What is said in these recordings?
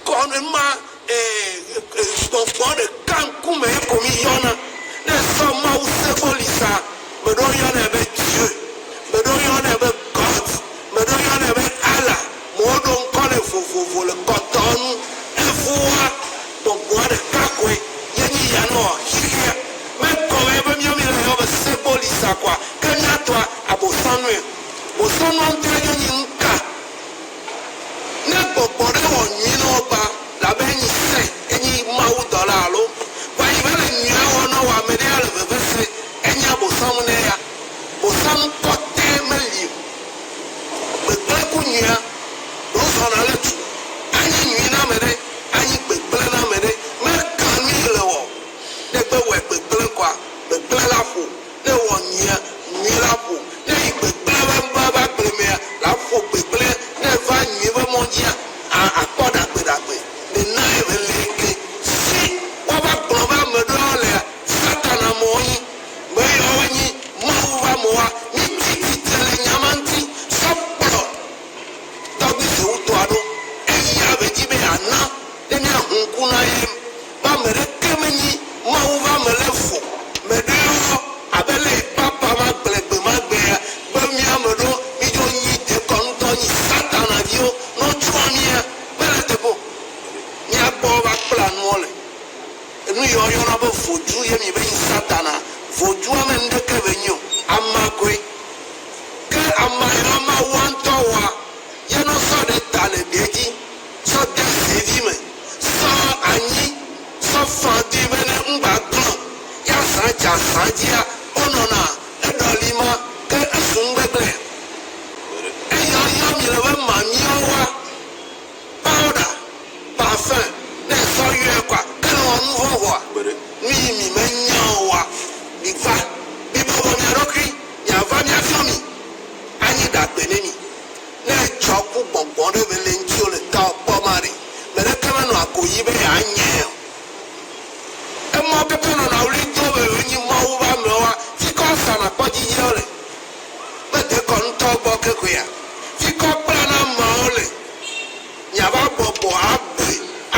Kɔnu ma e gbɔgbɔ ɖeka ŋkume ye ko mi yɔna. Ne sɔ Mawu se gbɔ li sa, me ɖewo yɔnɛ be Dieu, me ɖewo yɔnɛ be God, me ɖewo yɔnɛ be Allah, mɔwo ɖo ŋkɔ nɛ vovovo le kɔtɔnu. Evɔa, gbɔgbɔa ɖeka koe ye mi yanɔa xixea me. Egɔme ye be miɔ mi la yɔ be se gbɔ li sa kɔa, ke mia tɔa abosɔnue. Bosɔnua ŋtɔe nye nyi ŋka. Ne gbɔgbɔ ɖe wɔ nyui nɔ ɔgba, labe enyi sɛ̃, enyi Mawu dɔla alo kpa yi vele nyuia wɔ nɔ wa mɛɖe ale veve sɛ̃, enyi abosaŋu nɛ ya. Bosaŋu kpɔtɛ meli o. Gbegblẽ ku nyuia. Ɖo zɔna le tu. Anyi nyui na mɛɖe, anyi gbegblẽ na mɛɖe. Mɛ ka nui le wɔ o. Ne egbe wɔɛ gbegblẽ kɔa, gbegblẽ la ƒo. Ne wɔ nyuia, nyui la ƒo. Ne yi gbe gblẽ va ŋkɔ ava gblẽ mea, la ƒo gbe gblẽ. Ne eva nyui ƒe mɔ dzia, a akpɔ ɖagbe ɖagbe. Ne nae me le ŋke si woava kplɔ va ame ɖewo lea, Satana mɔ nyi. Me yawoe nyi Mawu va mɔa. Mi tsi tsitre le nya ma ŋti sɔ kplɔ tɔgbi sewutɔa ɖo. Eyi ya me dzi be ya na ne mia hu ŋku na ye. Be ame ɖeke menyi Mawu ƒe ame le fu me ɖeɔ, abe lé yi papa ma gblɔe gbemagbea be mía ame ɖewo mídzo nyi dekɔnutɔ, nyi Satana viwo. Ne wotsrɔ̃ mía, mele eteƒe o. Mía gbɔ wo va kpla nuɔ le. Enu yi wo yɔna be vodu ye mi be nyi Satana. Vodua me nuɖeke be nyi o. Ama koe. Ke ama yi la Mawua ŋutɔ wɔa ye ne wosɔ ɖe ta le ɖe dzi. tsɔ de zevi me sɔ anyi sɔ fã dui be ne ŋgba gblɔ ya zã dza zã dzia wo nɔna eɖɔli ma ke esu ŋgbegblɛ eyɔ yɔ mi le be ma miɔ wa powder parfum ne esɔ yɔɛ kɔa ele wɔ nu vɔn vɔa nu yi mi me nyaɔ wa mi va mi bɔbɔ mia ɖokui mia va mia fiɔ mi anyi ɖagbe ne mi. Ne etsɔ ku gbɔgbɔ ɖe eme le ŋutiwò le tawò kpɔ ma ɖe, meɖeke menɔa agoɣi be yeanyae o. Emɔwo katã nɔna ɣli dom be wonyi Mawu ƒe amewoa? Fikɔ asa nàkpɔ dzidzia wole? Mede kɔ ŋutɔ gbɔ kekoea? Fikɔ kpla na ameawo le miava bɔbɔ agbɔe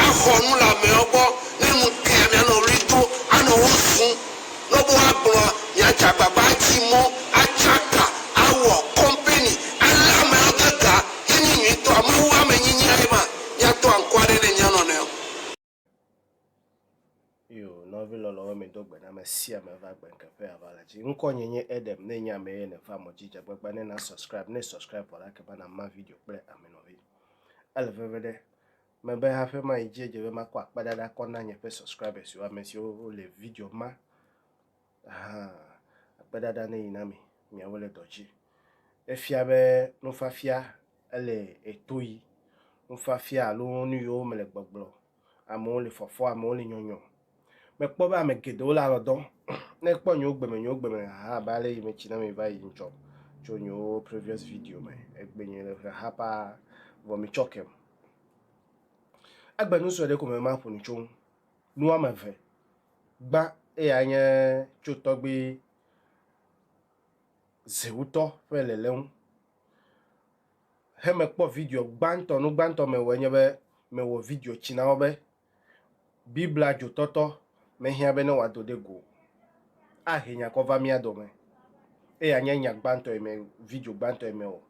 axɔ nu le ameawo gbɔ, ne nu tea mianɔ ɣli dom anɔ wo zum. ne be woagblɔ nya dzagbagbã adzi mɔ atsaka awɔ kɔmpɛni alé ameawo de ga ye nyi nyuitɔa Mawu amenyinyia ye ma míatɔ ankɔa ɖe ne mía nɔnɔewo. Io, nɔvi lɔlɔwo mi do gbe na me sia me va gbe nke ƒe ava la dzi. Ŋkɔ nye nye Edem, ne nye ame ye ne va mɔ dzi dzagbagba ne na subscribe, ne subscribe vɔ la ke va na ma video kple ame nɔvi. Ele veve ɖe, Mebe haƒe ma yi dzi edze be makɔ akpedada kɔ na nye ƒe subscribers siwo ame siwo le video ma. Aha, akpedada ne yi na mi, miawo le dɔ dzi. Efia be nufafia ele eto yi. Nufafia alo nu yiwo mele gbɔgblɔ. Amewo le fɔfɔ, amewo le nyɔnyɔ. Mekpɔ be ame geɖewo le alɔdɔ. Ne ekpɔ nyewo gbe me, nyewo gbe me haha abe ale yi metsi na mi va yi ŋtsɔ tso nyewo previous video me. Egbe nye le haha paa vɔ mi tsɔ kem. Egbe nu sue ɖe ko me ma ƒo nu tso ŋu. Nu ame ve. Gbã eya nye tso tɔgbi zewutɔ ƒe lele ŋu. He mekpɔ video gbãtɔ, nu gbãtɔ me wɔ enye be me wɔ video tsi na wo be Biblia dzotɔtɔ mehiã be ne wòado ɖe go o. Ahe nya kɔ va mía dome, eye anye nya gbãtɔ yi me, video gbãtɔ yi me o.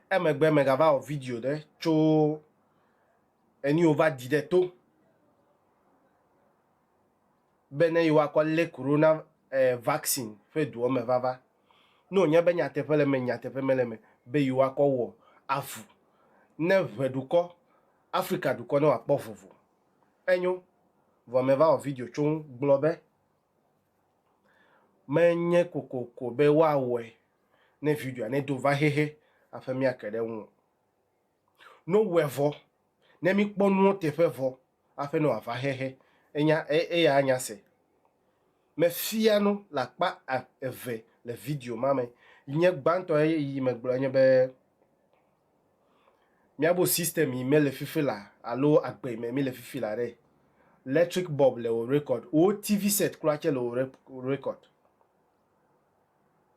Emegbe megava wɔ video ɖe tso enu yi wova di ɖe to be ne yewoakɔ lé korona eh, vaccine ƒe doɔ me vava. Ne wònye be nyateƒe le eme, nyateƒe mele eme be yewoakɔ wɔ avu ne ʋeɖukɔ Afrika dukɔ ne wòakpɔ vovo. Enyo, vɔ meva wɔ video tso ŋu gblɔ be menye kokoko be woawɔe ne videoa nedo va xexe aƒe míake ɖe eŋu o. No wɔe vɔ ne míkpɔ nuwo teƒe vɔ aƒe ne wòava xexe. Enya eya anya se. Mefia nu le akpa eve le video ma me. Nye gbãtɔ yi megblɔ nye be. Miabo system yi me le fifi la alo agbe yi me mi le fifi la ɖe. Electric bulb le o record. Wo TV set kura tse le o record.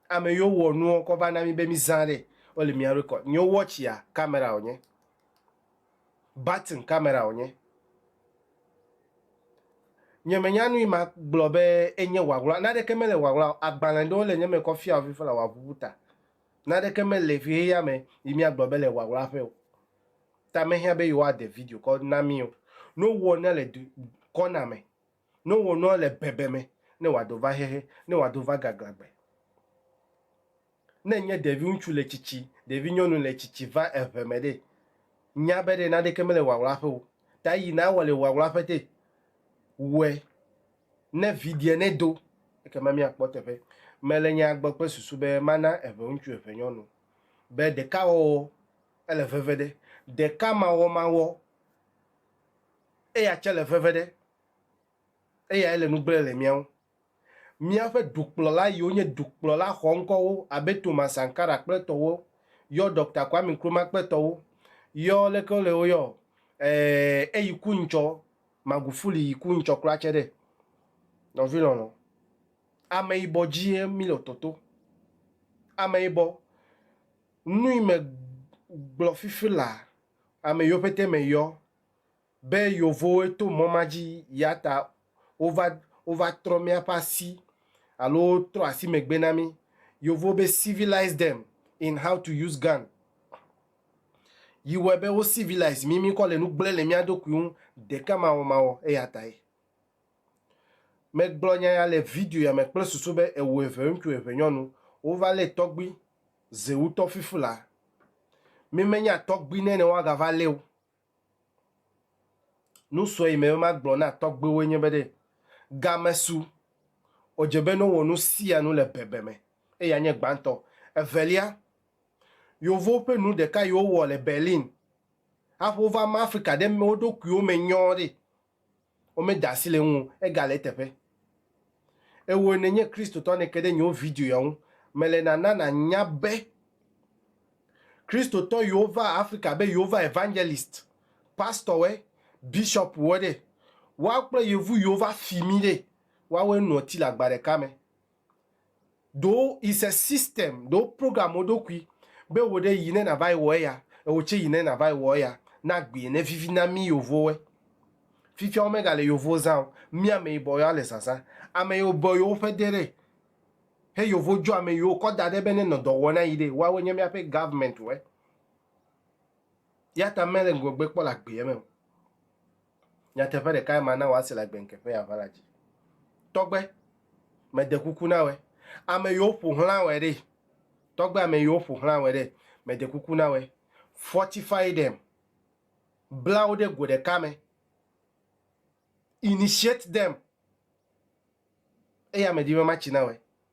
Ame yo wɔ nuɔ kɔ va na mi be mi zã ɖe o le mia record. Nyo watch ya camera o nye. Button camera o nye. Nye me nya nu yi ma gblɔ be enye ŋaŋla. Naɖe ke me le ŋaŋla o. Agbalẽ ɖewo le nye me kɔ fia o fifi la wa ʋuʋu ta. Naneke mele xexea me yi míagblɔ be le ŋaŋlaƒe o. Ta mehiã be yewoade video kɔ na mí o. Ne wowɔ nua le du kɔna me, ne wowɔ nua le bebe me, ne wòado va xexe, ne wòado va gaglãgbe. Ne nye ɖeviŋutsu le tsitsi, ɖevinyɔnu le tsitsi va eŋe me ɖe, nya be ɖe naneke mele ŋaŋlaƒe o. Ta yi nàwɔ le ŋaŋlaƒe te. Wɔe Ne vidiɛ nedo, ekema míakpɔ eteƒe. Mele nyaa gbɔ kple susu be mana eŋeŋutsu eŋenyɔnu be ɖekawɔwɔ ele veve ɖe, ɖekamawɔmawɔ eya tse le veve ɖe. Eyae le nu gblẽ le mía ŋu. Míaƒe dukplɔla yiwo nye dukplɔla xɔŋkɔwo abe Thomas Sankara kple etɔwo yɔ Doctor Kwame Nkrumah kple etɔwo yɔ leke wole wo yɔ ɔ, eyi ku ŋtsɔ. Magufuli yi ku ŋtsɔ kura tse ɖe nɔvi lɔlɔ ameyibɔ dzie mi le toto ameyibɔ nui me gblɔ fifi la ame yo pete me yɔ be yovowoe to mɔ ma dzi yata wova wova trɔ miaƒe asi alo wo trɔ asi megbe na mi yovowo be civilize them in how to use gun. yi wɔe be wo civilise mí, míkɔ le nu gblẽ le mía ɖokui ŋu ɖekamawɔmawɔ. Eya tae megblɔ nya ya le video ya me kple susu be ewu eve ŋutsu eve nyɔnu wova lé tɔgbui zewutɔ fifu la. Mímenya tɔgbui nɛ ne woagava lée o. Nusɔ yi me be magblɔ na tɔgbuiwoe nye be ɖe, game su, wòdze be nowɔ nu sia nu le bebe me eye anye gbãtɔ. Evelia, Yevuwo ƒe nu ɖeka yi wowɔ le Berlin hafi wova ma Afrika ɖe wo ɖokuiwo me nyɔɔ ɖe, Womeda asi le eŋu o, egale eteƒe. Ewòe nènye Kristotɔ nèke ɖe nye wo video ya ŋu. Mele nana nànya be Kristotɔ yiwo va Afrika be yewova evangelist, pastɔwoe, bishopwoe ɖe, woawo kple yevu yiwo va fi mí ɖe, woawoe noa ti le agba ɖeka me. Do is a system do program wo ɖokui be wo ɖe yi ne na va yi wɔ eya ewo tse yi ne na va yi wɔ eya na gbi ne vivi na mi yovo we fifia wo me ga le yovo zã o mi ame yibɔ ya le zazã ame yo bɔ yo ƒe de ɖe he yovo dzo ame yo kɔ da ɖe be ne nɔ dɔ wɔ na yi ɖe wa we nye mia ƒe government we ya ta me le ŋgɔgbe kpɔ le agbe me o Nyateƒe ɖekae mana wòase le agbeŋkeƒe ya va la dzi. Tɔgbe, mede kuku na wòe. Ame yiwo ƒo xlã wòe ɖe? Tɔgbe, ame yiwo ƒo xlã wòe ɖe? Mede kuku na wòe. Fortify them, bla wo ɖe go ɖeka me. Initiate them, eya medi be matsi na wòe.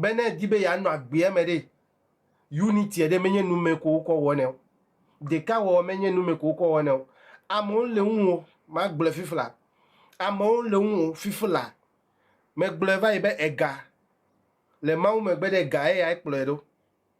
Be ne èdi be yeanɔ agbea me ɖe, unity ɖe menye nu me ko wokɔ wɔnɛ o. Ɖekawɔwɔ menye nu me ko wokɔ wɔnɛ o. Amewo le ŋuwò, magblɔe fifla, amewo le ŋuwò fifla. Megblɔe va yi be ega le Mawu megbe ɖe ega eyae kplɔe ɖo.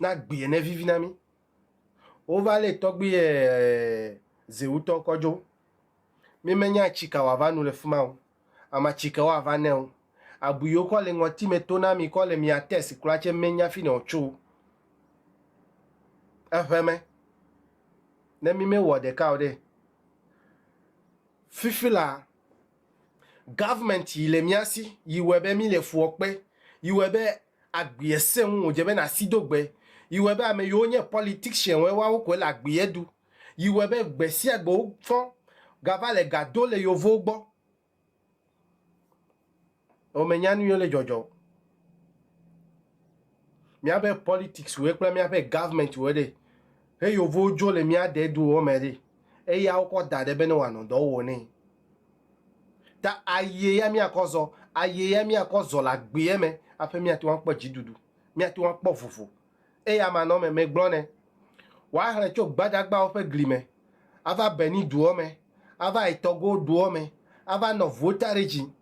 na gbi ene vivi na mí. Wova lé tɔgbui ɛɛ Zewutɔ kɔ dzo. Mí me nya ci ka woava nu le fima o. Ama ci ke woava nɛ o. Abu yiwo kɔ le ŋɔti me to na mí kɔ le mía tɛsi kura cɛ mé nya finɛ o co eŋɛ me. Ne mí me wɔ ɖeka o ɖe, fifi la, Government yi le mía si yi wɔe be mí le fuɔ kpe, yi wɔe be agbeɛ sẽ ŋu wòdze be nàsi do gbe, yi wɔe be ame yiwo nye politician wɔe woawo koe le agbeɛ ɖu, yi wɔe be gbe sia gbe wofɔ gava le ga do le yovowo gbɔ. Ewɔ menya nu yiwo le dzɔdzɔ o. Míabe politics wɔe kple míaƒe government wɔe ɖe he yovowo dzo le mía ɖe duwo me ɖe eya wokɔ da ɖe be ne wòanɔ dɔ wɔm nɛ. Ta ayie ya míakɔ zɔ, ayie ya míakɔ zɔ le agbeɛ me aƒe míate ŋu akpɔ dziɖuɖu, míate ŋu akpɔ vovo. Eye amanɔme me gblɔ nɛ. Woahlẽ tso gbadagbawo ƒe gli me ava Beni duɔ me, ava yi Tɔgo duɔ me, ava nɔ ŋuwo ta ɖe dzi.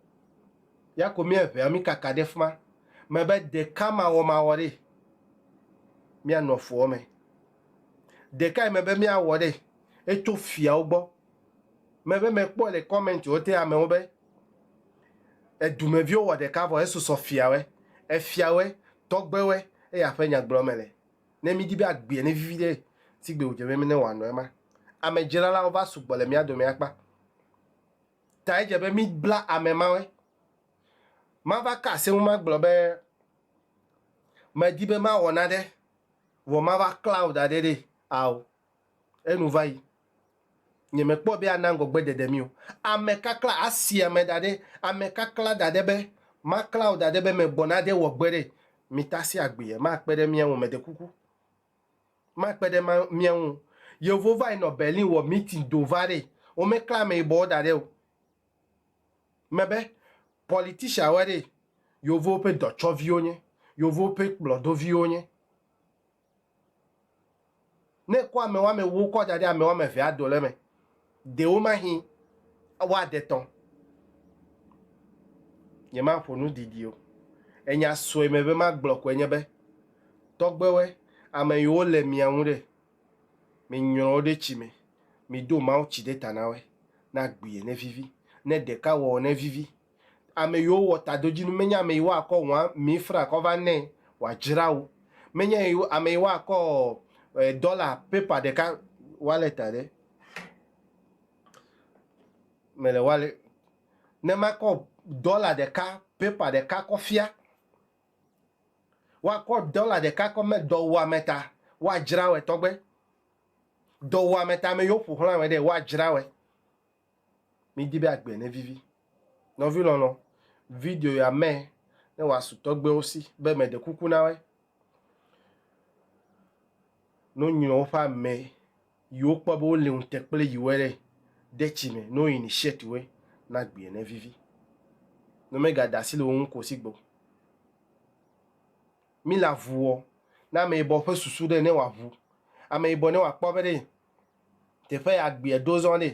Ya ko mía ŋea mí kaka ɖe fima me be ɖeka mawɔmawɔ ɖe míanɔ fuɔ me. Ɖekae me be míawɔ ɖe etso fiawo gbɔ. mebe mekpɔe le comment wo te amewo be edumeviwo wɔ ɖeka vɔ esusɔ fiawe, efiawe, tɔgbewe eye aƒe nyagblɔ me le. Ne midi be agbea ne vivi ɖe sigbe wodze be mene wòanɔ ema, ame dzralawo va sugbɔ le mía dome akpa ta edze be mibla ame mawe. Mava ka asi eŋu magblɔ be medi be mawɔ nane vɔ mava klãwò daɖɛ ɖe ao. Enu va yi. Nyemekpɔ be ana ŋgɔgbe ɖeɖe mí o. Ame kakla, asi ame da ɖe, ame kakla da ɖe be, makla wò da ɖe be megbɔna ɖe wɔ gbe ɖe. Mitasi agbee, makpe ɖe mía ŋu, meɖe kuku. Makpe ɖe ma, mía ŋu. Yevuwo va yi nɔ Berlin wɔ meeting do va ɖe. Womekla ameyibɔwo da ɖe o. Mebe, politician woe ɖe. Yevuwo ƒe dɔtsɔviwo nye. Yevuwo ƒe kplɔdoviwo nye. Ne ekɔ ame woame ewo kɔ da ɖe ame woame evea dole me, ɖewomahi woaɖe tɔ. Nyemaƒo nu didi o. Enya sue me be magblɔ koe nye be, tɔgbewoe, ame yiwo le mia ŋu ɖe, minyrɔ wo ɖe tsi me, miɖo mawutsi ɖe ta na woe, ne agbie, nevivi, ne ɖeka wɔ o, nevivi. Ame yiwo wɔ tadodzinu menye ame yi woakɔ ŋua mifra kɔ va nɛ wòadzra wo. Menye ame yi woakɔ dɔla pepa ɖeka wallet aɖe me le wallet ne makɔ dɔla ɖeka pepa ɖeka kɔ fia. Woakɔ dɔla ɖeka kɔ me dɔwuame ta woadzra wɔe tɔgbe. Dɔwuame ta ame yiwo ƒoxlã wɔe ɖe woadzra wɔe. Midi be agbe nevivi. Nɔvi lɔlɔ, video ya mɛ ne wòasu tɔgbewo si be meɖe kuku na woe. Ne wonyrɔ woƒe ame yi wokpɔ be wole ŋute kple yiwoe ɖe, de tsi me ne woyini shirt woe na agbe nevivi. Ne womegada asi le wo ŋu ko sigbe o. Mila ŋuɔ na ameyibɔ ƒe susu ɖe ne wòaŋu ameyibɔ ne wòakpɔ be ɖe. Teƒe ya gbeɛ ɖo zɔ nɛ.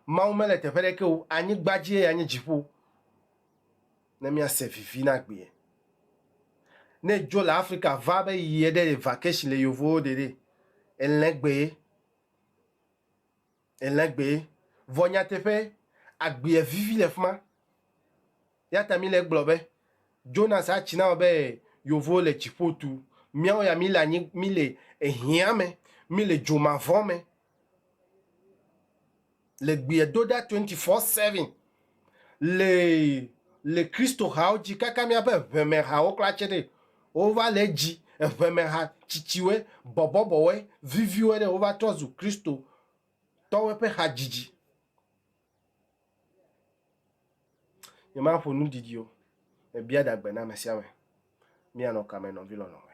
Mawu mele teƒe ɖeke o. Anyigba dzie ya nye dziƒo. Ne mía se vivi na gbeɛ. Ne edzo le Afrika va be yi eɖe le vacation le yovowo ɖe ɖe, elẽ gbee. Elẽ gbee. Vɔ nyateƒe, agbeɛ vivi le fima. Eya ta mile egblɔ be, Jonas atsi na wò be yovo le dziƒo tu, míawo ya míle anyi, míle ehiã me, míle dzo mavɔ me le gbeɛ do ɖa twenty four seven le le Kristo hawo dzi kaka míaƒe ʋeme hawo kura tse ɖe wova le edzi eʋeme ha tsitsiwoe, bɔbɔbɔwoe, viviwoe ɖe wova trɔ zu Kristo tɔwoe ƒe hadzidzi. Nyemaƒo nu didi o. Mebia dagbe na ame sia ame. Míanɔ kame nɔvi lɔlɔ̃ me.